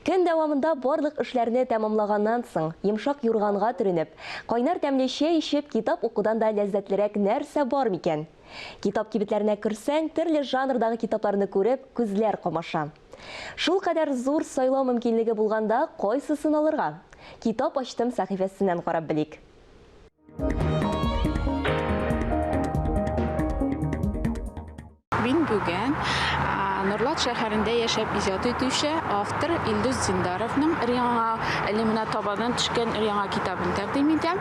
Көн дәвамында барлык эшләрне тәмамлаганнан соң, йомшак юрганга төренеп, кайнар тәмле чәй эчеп, китап укудан да ләззәтлерәк нәрсә бар микән? Китап кибетләренә керсәң, төрле жанрдагы китапларны күреп, күзләр камаша. Шулкадәр зур сайлау мөмкинлеге булганда, кайсысын алырга? Китап ачтым сәхифәсеннән карап белик. Мин бүген Норлат шәһәрендә яшәп иҗат итүче автор Илдус Зиндаровның Риаңа әлемнә табадан төшкән Риаңа китабын тәкъдим итәм.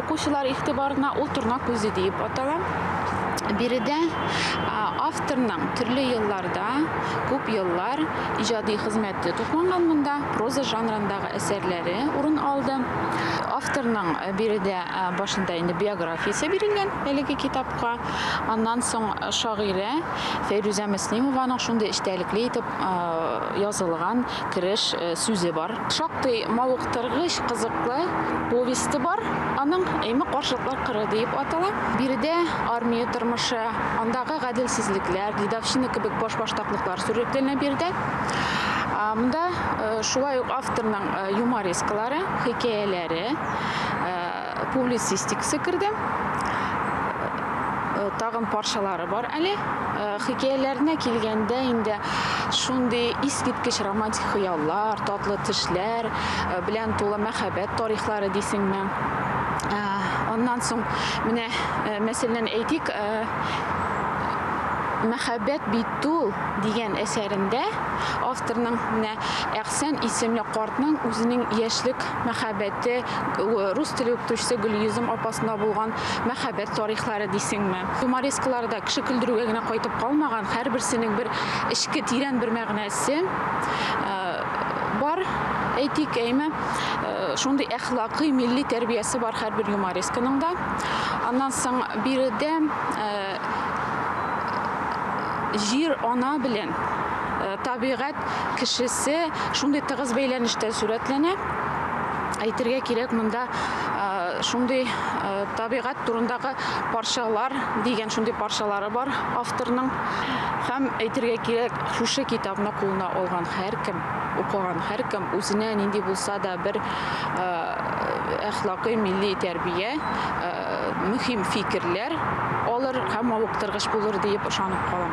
Укучылар игътибарына ул торна күзе диеп атала. Биредә авторның төрле елларда, күп еллар иҗади хезмәте тупланган монда проза жанрындагы әсәрләре урын алды. Авторның биредә башында инде биографиясе бирелгән әлеге китапка. Аннан соң шагыйрә Фәйрүзә Мөслимованың шундый эчтәлекле итеп язылган кереш сүзе бар. Шактый мавыктыргыч, кызыклы повесте бар аның, Эми каршылыклар кыры диеп атала. Биредә армия тормышы, андагы гаделсезлекләр, дедовщина кебек башбаштаклыклар Сурәтләнә биредә монда шулай ук авторның юморескалары, хикәяләре, публицистикасы керде. Тагын парчалары бар әле. Хикәяләренә килгәндә инде шундый искиткеч романтик хыяллар, татлы төшләр белән тулы мәхәббәт тарихлары дисеңме? Аннан соң менә мәсәлән әйтик, мәхәббәт бит Тол дигән әсәрендә авторның менә Әхсән исемле картның үзенең яшьлек мәхәббәте, рус теле укытучысы Гөлйөзем апасына булган мәхәббәт тарихлары дисеңме, юморескалары да кеше көлдерүгә генә кайтып калмаган, һәрберсенең бер эчке тирән бер мәгънәсе бар, әйтик, әйме, шундый әхлакый, милли тәрбиясе бар һәрбер юморесканың да. Аннан соң биредә җир ана белән табигать кешесе шундый тыгыз бәйләнештә сурәтләнә. Әйтергә кирәк, монда шундый табигать турындагы парчалар дигән шундый парчалары бар авторның. Һәм әйтергә кирәк, шушы китапны кулына алган һәркем, укыган һәркем үзенә нинди булса да бер әхлакый, милли тәрбия мөһим фикерләр алыр һәм мавыктыргыч булыр диеп ышанып калам.